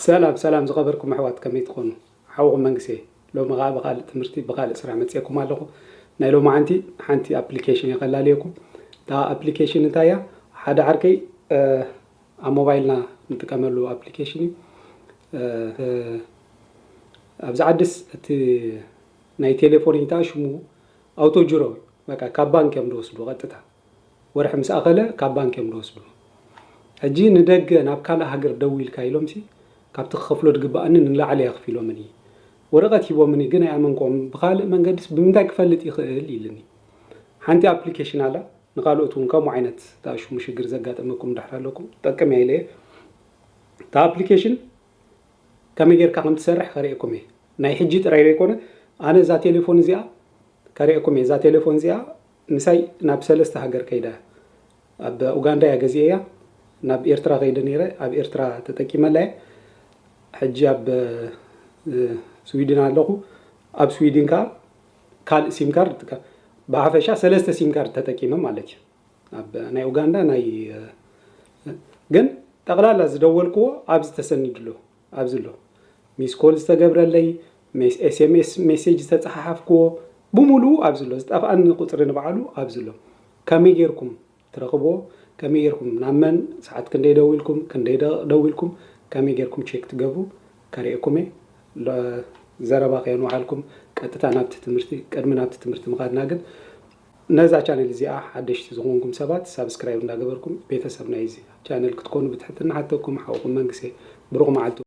ሰላም ሰላም ዝኸበርኩም ኣሕዋት ከመይ ትኾኑ ሓውኹም መንግስት እየ ሎሚ ኸኣ ብኻልእ ትምህርቲ ብኻልእ ስራሕ መጽኤኩም ኣለኹ ናይ ሎማዓንቲ ሓንቲ ኣፕሊኬሽን እየ ከላልየኩም እታ ኣፕሊኬሽን እንታይ እያ ሓደ ዓርከይ ኣብ ሞባይልና ንጥቀመሉ ኣፕሊኬሽን እዩ ኣብዚ ዓድስ እቲ ናይ ቴሌፎን ሽሙ ኣውቶጅሮ በቃ ካብ ባንክ እዮም ዝወስዱ ቀጥታ ወርሒ ምስ ኣኸለ ካብ ባንክ እዮም ልወስዱ ሕጂ ንደገ ናብ ካልእ ሃገር ደዊልካ ኢሎምሲ ካብቲ ክኸፍሎ ድግብኣኒ ንላዕሊ ኣኽፊሎምኒ ወረቀት ሂቦምኒ ግን ኣይኣመንክዎምን ብኻልእ መንገድስ ብምንታይ ክፈልጥ ይኽእል ኢልኒ ሓንቲ ኣፕሊኬሽን ኣላ ንኻልኦት ውን ከምኡ ዓይነት ዝኣሽሙ ሽግር ዘጋጠመኩም ድሕር ኣለኩም ትጠቅም እያ ኢለየ እታ ኣፕሊኬሽን ከመይ ጌርካ ከም ትሰርሕ ከርእየኩም እየ ናይ ሕጂ ጥራይ ዘይኮነ ኣነ እዛ ቴሌፎን እዚኣ ከርእየኩም እየ እዛ ቴሌፎን እዚኣ ምሳይ ናብ ሰለስተ ሃገር ከይዳ እያ ኣብ ኡጋንዳ እያ ገዚኤያ ናብ ኤርትራ ከይደ ነይረ ኣብ ኤርትራ ተጠቂመላ እየ ሕጂ ኣብ ስዊድን ኣለኹ ኣብ ስዊድን ከኣ ካልእ ሲም ካርድ ይጥቀም ብሓፈሻ ሰለስተ ሲም ካርድ ተጠቂመ ማለት እዩ ኣብ ናይ ኡጋንዳ ናይ ግን ጠቕላላ ዝደወልክዎ ኣብዚ ተሰኒድሉ ኣብዚ ኣሎ ሚስ ኮል ዝተገብረለይ፣ ሜስ ኤስኤምኤስ ሜሴጅ ዝተጸሓሓፍክዎ ብሙሉኡ ኣብዚ ኣሎ፣ ዝጠፍኣኒ ቁጽሪ ንባዕሉ ኣብዚ ኣሎ። ከመይ ጌርኩም ትረኽብዎ፣ ከመይ ጌርኩም ናብ መን ሰዓት ክንደይ ደዊልኩም፣ ክንደይ ደቕቕ ደዊልኩም፣ ከመይ ጌርኩም ቼክ ትገብሩ ከርእየኩም እየ። ሎ ዘረባ ከየንውሓልኩም ቀጥታ ናብቲ ትምህርቲ፣ ቅድሚ ናብቲ ትምህርቲ ምኻድና ግን ነዛ ቻነል እዚኣ ሓደሽቲ ዝኾንኩም ሰባት ሳብስክራይብ እንዳገበርኩም ቤተሰብ ናይዚ ቻነል ክትኮኑ ብትሕትና ሓተኩም፣ ሓውኹም መንግሴ። ብሩኽ መዓልቲ።